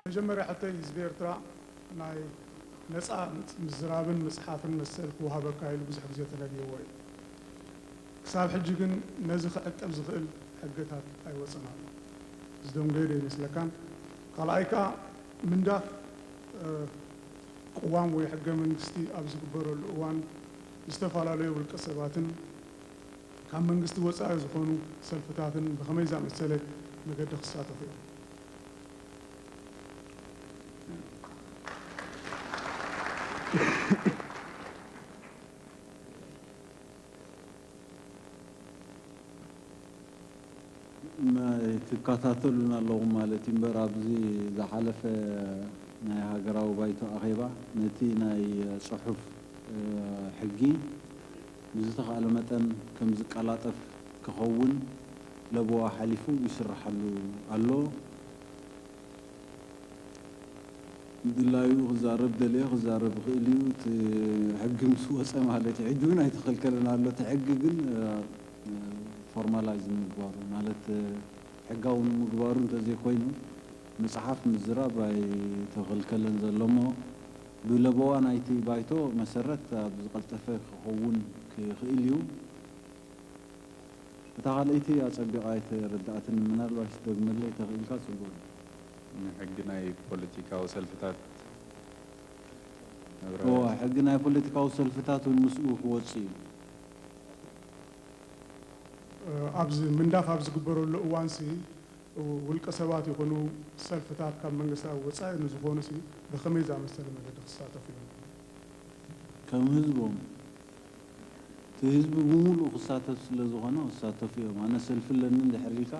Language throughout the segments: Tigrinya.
መጀመርያ ሕቶይ ህዝቢ ኤርትራ ናይ ነጻ ምዝራብን ምጽሓፍን መሰል ክወሃበካ ኢሉ ብዙሕ ግዜ ተነብይዎ እዩ። ክሳብ ሕጂ ግን ነዚ ክዕቅብ ዝኽእል ሕገታት ኣይወጸን ኣሎ። ዝደንጎየ ዶ ኣይመስለካን? ካልኣይ ከኣ ምንዳፍ ቅዋም ወይ ሕገ መንግስቲ ኣብ ዝግበረሉ እዋን ዝተፈላለዩ ውልቀ ሰባትን ካብ መንግስቲ ወጻኢ ዝኾኑ ሰልፍታትን ብኸመይ ዝኣመሰለ መገዲ ክሳተፉ እዮም? ትካታተሉና ኣለኹም ማለት እዩ እምበር ኣብዚ ዝሓለፈ ናይ ሃገራዊ ባይቶ ኣኼባ ነቲ ናይ ጽሑፍ ሕጊ ብዝተኻእለ መጠን ከም ዝቀላጠፍ ክኸውን ለበዋ ሓሊፉ ይስርሓሉ ኣሎ። ብድላዩ ክዛረብ ደልየ ክዛረብ ይኽእል እዩ እቲ ሕጊ ምስ ወጸ ማለት እዩ ሕጂ ውን ኣይተኸልከለን ኣሎ እቲ ሕጊ ግን ፎርማላይዝ ንምግባሩ ማለት ሕጋዊ ንምግባሩ እንተዘይ ኮይኑ ምጽሓፍ ምዝራብ ኣይተኸልከለን ዘሎ እሞ ብለበዋ ናይቲ ባይቶ መሰረት ኣብ ዝቀልጠፈ ክኸውን ክኽእል እዩ እታ ካልኣይቲ ኣጸቢቓ ኣይተረድኣትንን ምናልባሽ ትደግመለይ ተኽኢልካ ጽቡቕ ነይሩ። ንሕጊ ናይ ፖለቲካዊ ሰልፍታት እወ ነብራርያ። ሕጊ ናይ ፖለቲካዊ ሰልፍታት ውን ምስኡ ክወጽእ እዩ። ኣብዚ ምንዳፍ ኣብ ዝግበረሉ እዋንሲ ውልቀ ሰባት ይኹኑ ሰልፍታት ካብ መንግስቲ ኣብ ወጻኢ ንዝኾኑሲ ብኸመይ ዝኣመሰለ መገዲ ክሳተፉ እዮም? ከም ህዝቦም እቲ ህዝቢ ብሙሉኡ ክሳተፍ ስለ ዝኾነ ክሳተፉ እዮም። ኣነ ሰልፊ ኣለኒ እንድሕር ኢልካ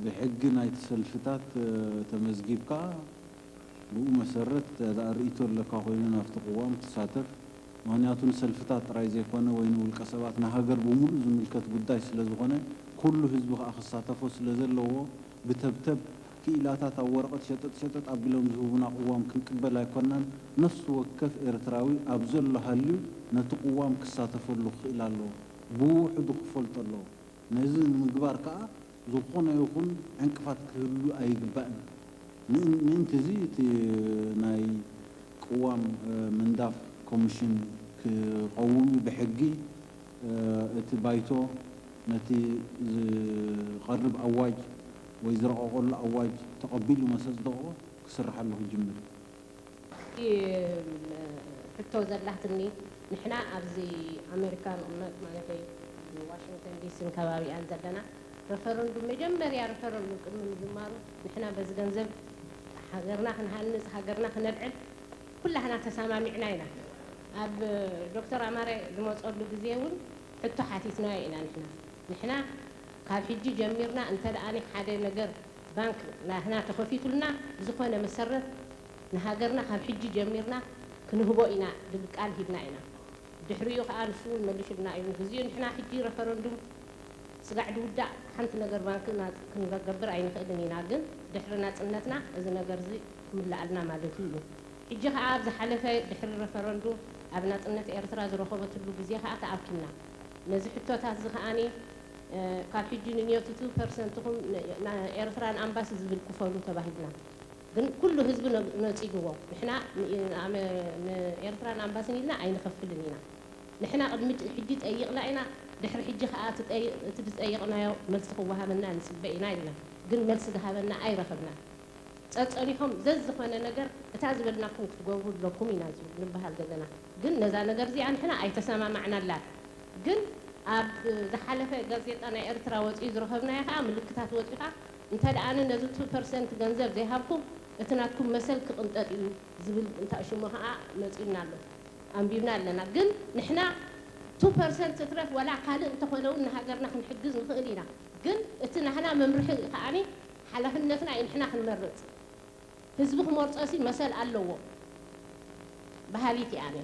ብሕጊ ናይቲ ሰልፍታት ተመዝጊብካ ብኡ መሰረት እንተድኣ ርእይቶ ኣለካ ኮይኑ ናብቲ ቅዋም ትሳተፍ። ምኽንያቱ ንሰልፍታት ጥራይ ዘይኮነ ወይ ንውልቀ ሰባት ንሃገር ብሙሉኡ ዝምልከት ጉዳይ ስለ ዝኾነ ኩሉ ህዝቢ ከኣ ክሳተፎ ስለ ዘለዎ ብተብተብ ክኢላታት ኣብ ወረቐት ሸጠጥ ሸጠጥ ኣቢሎም ዝህቡና ቅዋም ክንቅበል ኣይኮናን። ነፍሲ ወከፍ ኤርትራዊ ኣብ ዘሎ ሃልዩ ነቲ ቅዋም ክሳተፈሉ ክኽእል ኣለዎ። ብውሑዱ ክፈልጦ ኣለዎ። ነዚ ንምግባር ከኣ ዝኾነ ይኹን ዕንቅፋት ክህሉ ኣይግባእን። ን ምእንቲ'ዚ እቲ ናይ ቅዋም ምንዳፍ ኮሚሽን ክቐውም'ዩ ብሕጊ። እቲ ባይቶ ነቲ ዝቐርብ ኣዋጅ ወይ ዝረቐቐሉ ኣዋጅ ተቐቢሉ መስ ኣጽደቖ ክስርሓሉ ክጅምር እዩ። ሕቶ ዘላትኒ ንሕና ኣብዚ ኣሜሪካ ንቕመጥ ማለተይ ዋሽንግተን ዲስን ከባቢኣን ዘለና ረፈረንዱም መጀመርያ ረፈረንዱም ቅድሚ ምጅማሩ ንሕና በዚ ገንዘብ ሃገርና ክንሃንጽ ሃገርና ክነልዕል ኩላህና ተሳማሚዕና ኢና ኣብ ዶክተር ኣማረ ዝመጸሉ ግዜ ውን ሕቶ ሓቲትናዮ ኢና ንሕና ንሕና ካብ ሕጂ ጀሚርና እንተ ሓደ ነገር ባንክ ናህና ተኸፊቱልና ብዝኾነ መሰረት ንሃገርና ካብ ሕጂ ጀሚርና ክንህቦ ኢና ድብል ቃል ሂብና ኢና ድሕሪኡ ከኣ ንሱ ውን መሊሱልና እዩ ንግዚኡ ንሕና ሕጂ ረፈረንዱም ስጋዕ ድውዳእ ሓንቲ ነገር ባንክ ክንገብር ኣይንኽእልን ኢና ግን ድሕሪ ናጽነትና እዚ ነገር እዚ ምለኣልና ማለቱ እዩ። ሕጂ ከኣ ኣብ ዝሓለፈ ድሕሪ ረፈረንዱ ኣብ ናጽነት ኤርትራ ዝረኸበትሉ ግዜ ከኣ ተኣኪብና ነዚ ሕቶታት እዚ ከኣ ካብ ሕጂ ንንዮትቱ ፐርሰንትኹም ንኤርትራ ን ኣምባሲ ዝብል ክፈሉ ተባሂልና ግን ኩሉ ህዝቢ ነጺግዎ ንሕና ን ኤርትራ ን ኣምባሲን ኢልና ኣይንኸፍልን ኢና ንሕና ቅድሚ ሕጂ ጠይቅና ኢና ድሕሪ ሕጂ ከኣ እቲ ድጸየቅናዮ መልሲ ክወሃበና ንጽበ ኢና ኢልና ግን መልሲ ድሃበና ኣይረኸብናን። ጸጸሪሆም ዘዝኾነ ነገር እታ ዝበልናኩም ክትገብሩ ኣለኩም ኢና ንበሃል ዘለና ግን ነዛ ነገር እዚኣ ንሕና ኣይተሰማማዕናላን ግን ኣብ ዝሓለፈ ጋዜጣ ናይ ኤርትራ ወጺኡ ዝረኸብናዮ ከኣ ምልክታት ወጺኡካ እንተ ኣነ ነዚ two percent ገንዘብ ዘይሃብኩም እቲ ናትኩም መሰል ክቕንጠጥ እዩ ዝብል እንታሽሙ ከኣ መጺኡና ኣሎ ኣንቢብና ኣለና ግን ንሕና two percent ትትረፍ ወላ ካልእ እንተኾነ ውን ንሃገርና ክንሕግዝ ንኽእል ኢና ግን እቲ ናህና መምርሒ ከኣ ሓላፍነትና ኢንሕና ክንመርጽ ህዝቢ ክመርጾሲ መሰል ኣለዎ በሃሊት እየ ኣነ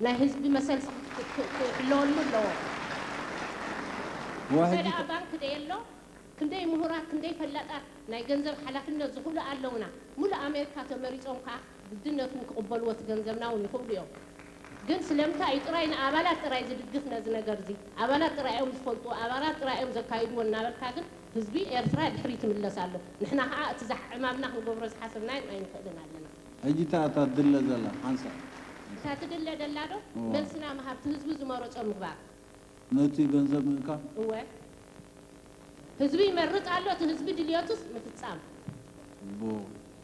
ናይ ህዝቢ መሰልሲ ክሕለወሉ ኣለዎ እንተደኣ ባንክ ደየሎ ክንደይ ምሁራት ክንደይ ፈላጣት ናይ ገንዘብ ሓላፍነት ዝኽሉ ኣለውና ምሉእ ኣሜርካ ተመሪጾም ከኣ ግድነት ውን ክቕበልዎ እቲ ገንዘብና ውን ይኽእሉ እዮም ግን ስለምንታይ እዩ ጥራይ ንኣባላት ጥራይ ዝድግፍ ነዚ ነገርዚ ኣባላት ጥራይ እዮም ዝፈልጡ ኣባላት ጥራይ እዮም ዘካይድዎ እናበልካ ግን ህዝቢ ኤርትራ ድሕሪ ይትምለስ ኣሎ ንሕና ከኣ እቲ ዝሓዕማምና ክንገብሮ ዝሓሰብናዮም ኣይንክእልን ኣለና። ሕጂ እታ እታ ትድለ ዘላ ሓንሳእ። እታ ትድለ ደላ ዶ መልስና ምሃብ እቲ ህዝቢ ዝመረጾ ምግባር። ነቲ ገንዘብ ምእካብ። እወ ህዝቢ ይመርጽ ኣሎ እቲ ህዝቢ ድልዮቱስ ምፍጻም። ብ።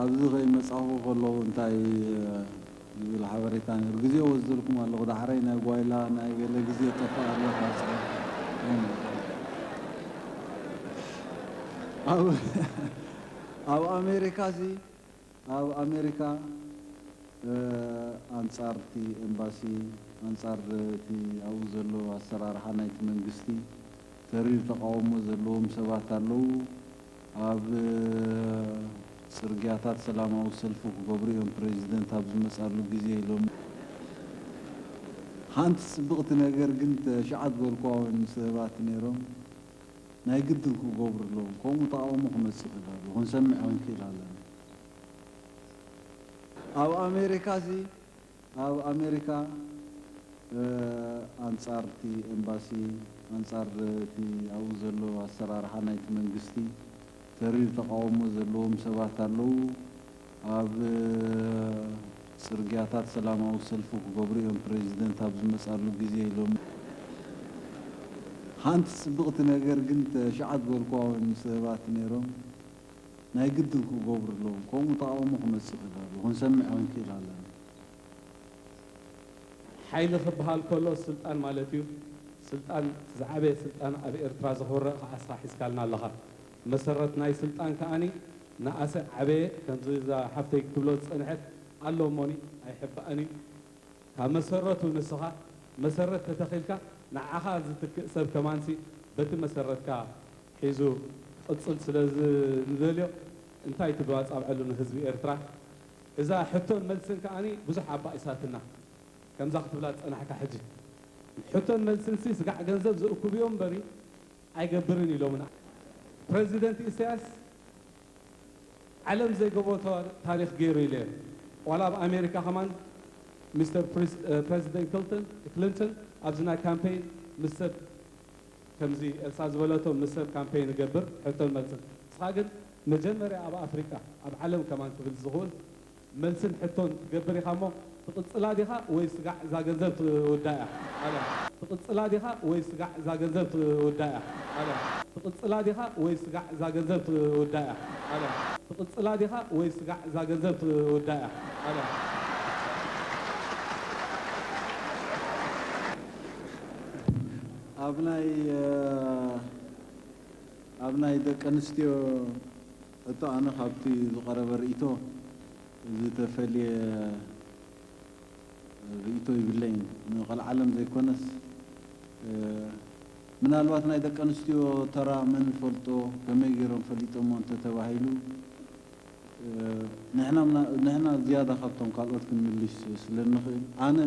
ኣብዚ ከይመጻኹ ከለኹ እንታይ ዝብል ሓበሬታ ነይሩ ግዜ ወስደልኩም ኣለኹ ዳሕራይ ናይ ጓይላ ናይ ገለ ግዜ ጠፍእ ኣሎ ካብ ጽሑፍ ኣብ ኣሜሪካሲ ኣብ ኣሜሪካ ኣንጻር እቲ ኤምባሲ ኣንጻር እቲ ኣብኡ ዘሎ ኣሰራርሓ ናይቲ መንግስቲ ተሪር ተቓውሞ ዘለዎም ሰባት ኣለዉ ኣብ ጽርግያታት ሰላማዊ ሰልፊ ክገብሩ እዮም ፕረዚደንት ኣብ ዝመጻሉ ግዜ ሎሚ። ሓንቲ ጽብቕቲ ነገር ግን ተሽዓት በልኳውያን ሰባት ነይሮም ናይ ግድን ክገብሩ ኣለዎም ከምኡ ተቓውሞ ክመጽእ ይኽእል ኣሎ ክንሰምዕ ክንክእል ኣለና። ኣብ ኣሜሪካ'ሲ ኣብ ኣሜሪካ ኣንጻር እቲ ኤምባሲ ኣንጻር እቲ ኣብኡ ዘሎ ኣሰራርሓ ናይቲ መንግስቲ ተሪር ተቓውሞ ዘለዎም ሰባት ኣለዉ። ኣብ ጽርግያታት ሰላማዊ ሰልፊ ክገብሩ እዮም ፕረዚደንት ኣብ ዝመጻሉ ግዜ ኢሎም። ሓንቲ ጽብቕቲ ነገር ግን ተሽዓት ጎርኳውያን ሰባት ነይሮም። ናይ ግድን ክገብሩ ኣለዎም ከምኡ ተቃውሞ ክመጽእ ተጋሩ ክንሰምዕ ክንክእል ኣለና። ሓይሊ ክብሃል ከሎ ስልጣን ማለት እዩ ስልጣን ዝዓበየ ስልጣን ኣብ ኤርትራ ዝክብረ ክኣ እስኻ ሒዝካልና ኣለኻ መሰረት ናይ ስልጣን ክኣኒ ንኣሰ ዓበየ ከምዚ እዛ ሓፍተይ ክትብሎ ዝጸንሐት ኣሎ እሞኒ ኣይሕባእን እዩ ካብ መሰረቱ ንስኻ መሰረት ተተኺልካ ንዓኻ ዝትክእ ሰብ ከማንሲ በቲ መሰረትካ ሒዙ ክቅጽል ስለ ዝንደልዮ እንታይ ትብሉ ኣጻብዕሉ ንህዝቢ ኤርትራ እዛ ሕቶን መልስን ከኣ ብዙሕ ኣባኢሳትና ከምዛ ክትብላ ዝጸናሕካ ሕጂ ሕቶን መልስንሲ ስጋዕ ገንዘብ ዝእኩብዮ እምበሪ ኣይገብርን ኢሎምና ፕረዚደንት ኢሰያስ ዓለም ዘይገብሮ ታሪኽ ጌሩ ኢለዮ ዋላ ኣብ ኣሜሪካ ከማን ሚስተር ፕረዚደንት ክልንተን ኣብዚ ናይ ካምፔይን ምስ ሰብ ከምዚ ኤልሳ ዝበለቶ ምስ ሰብ ካምፔይን እገብር ሕቶን መልስን ንስኻ ግን መጀመርያ ኣብ ኣፍሪቃ ኣብ ዓለም ከማን ክብል ዝኽኡል መልስን ሕቶን ክትገብር ኢኻ እሞ ትቕጽላ ዲኻ ወይ ስጋዕ እዛ ገንዘብ ትውዳእ እያ ኣለም ትቕጽላ ዲኻ ወይ ስጋዕ እዛ ገንዘብ ትውዳእ እያ ኣለም ትቕጽላ ዲኻ ወይ ስጋዕ እዛ ገንዘብ ትውዳእ እያ ኣለም ትቕጽላ ዲኻ ወይ ስጋዕ እዛ ገንዘብ ትውዳእ እያ ኣለም። ኣብ ናይ ኣብ ናይ ደቂ ኣንስትዮ ሕቶ ኣነ ካብቲ ዝቐረበ ርእይቶ ዝተፈልየ ርእይቶ ይብለይን ንቐልዓለም ዘይኮነስ ምናልባት ናይ ደቂ ኣንስትዮ ተራ መን ይፈልጦ ከመይ ገይሮም ፈሊጦሞ እንተተባሂሉ ንሕና ዝያዳ ካብቶም ካልኦት ክንምልሽ ስለ እንኽእል፣ ኣነ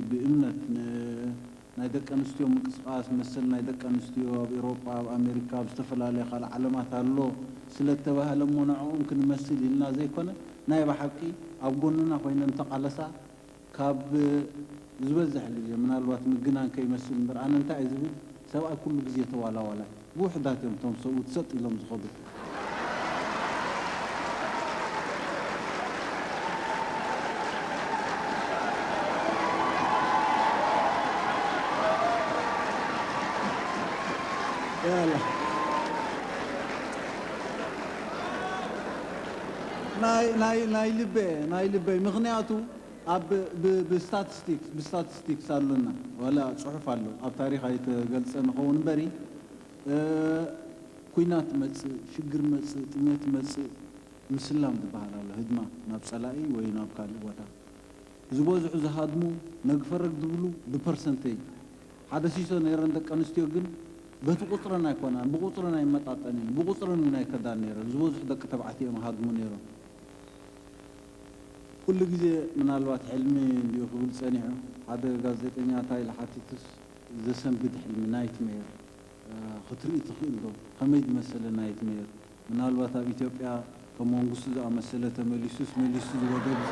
ብእምነት ንናይ ደቂ ኣንስትዮ ምንቅስቓስ፣ መሰል ናይ ደቂ ኣንስትዮ ኣብ ኤውሮጳ፣ ኣብ ኣሜሪካ፣ ኣብ ዝተፈላለያ ካልእ ዓለማት ኣሎ ስለ እተባህለ እሞ ንዕኦም ክንመስል ኢልና ዘይኮነ፣ ናይ ብሓቂ ኣብ ጎንና ኮይነን እተቓለሳ ካብ ዝበዝሕ ግዜ ምናልባት ምግናን ከይመስል እምበር ኣነ እንታይ እየ ዝብል ሰብኣይ ኩሉ ግዜ ተዋላዋላይ እዩ ብውሕዳት እዮም እቶም ሰብኡት ሰጥ ኢሎም ዝኸዱ። ያላ። ናይ ልበ ናይ ልበይ ምኽንያቱ ኣብ ብስታትስቲክስ ብስታትስቲክስ ኣሎና ዋላ ጽሑፍ ኣሎ ኣብ ታሪኽ ኣይተገልጸን ይኸውን እምበሪ ኩናት ይመጽእ ሽግር ይመጽእ ጥሜት ይመጽእ ምስላም ዝብሃል ኣሎ ህድማ ናብ ጸላኢ ወይ ናብ ካልእ ቦታ ዝበዝሑ ዝሃድሙ ነግፈረግ ዝብሉ ብፐርሰንተይ ሓደ ሲሶ ነይረን ደቂ ኣንስትዮ ግን በቲ ቁጽረን ኣይኮናን ብቁጽረን ኣይመጣጠን'የን ብቁጽረን ውን ኣይከዳን ነይረን ዝበዝሑ ደቂ ተባዕትዮ እዮም ሃድሙ ነይሮም ኩሉ ግዜ ምናልባት ሕልሚ እንድዩ ክብል ጸኒሑ ሓደ ጋዜጠኛ ታይ ኢሉ ሓቲቱስ ዘሰንብድ ሕልሚ ናይት መየር ክትርኢ ትኽእል ዶ ከመይ ዝመሰለ ናይት መየር ምናልባት ኣብ ኢትዮጵያ ከም መንግስቱ ዝኣመሰለ ተመሊሱስ መሊሱ ዝበደብዘ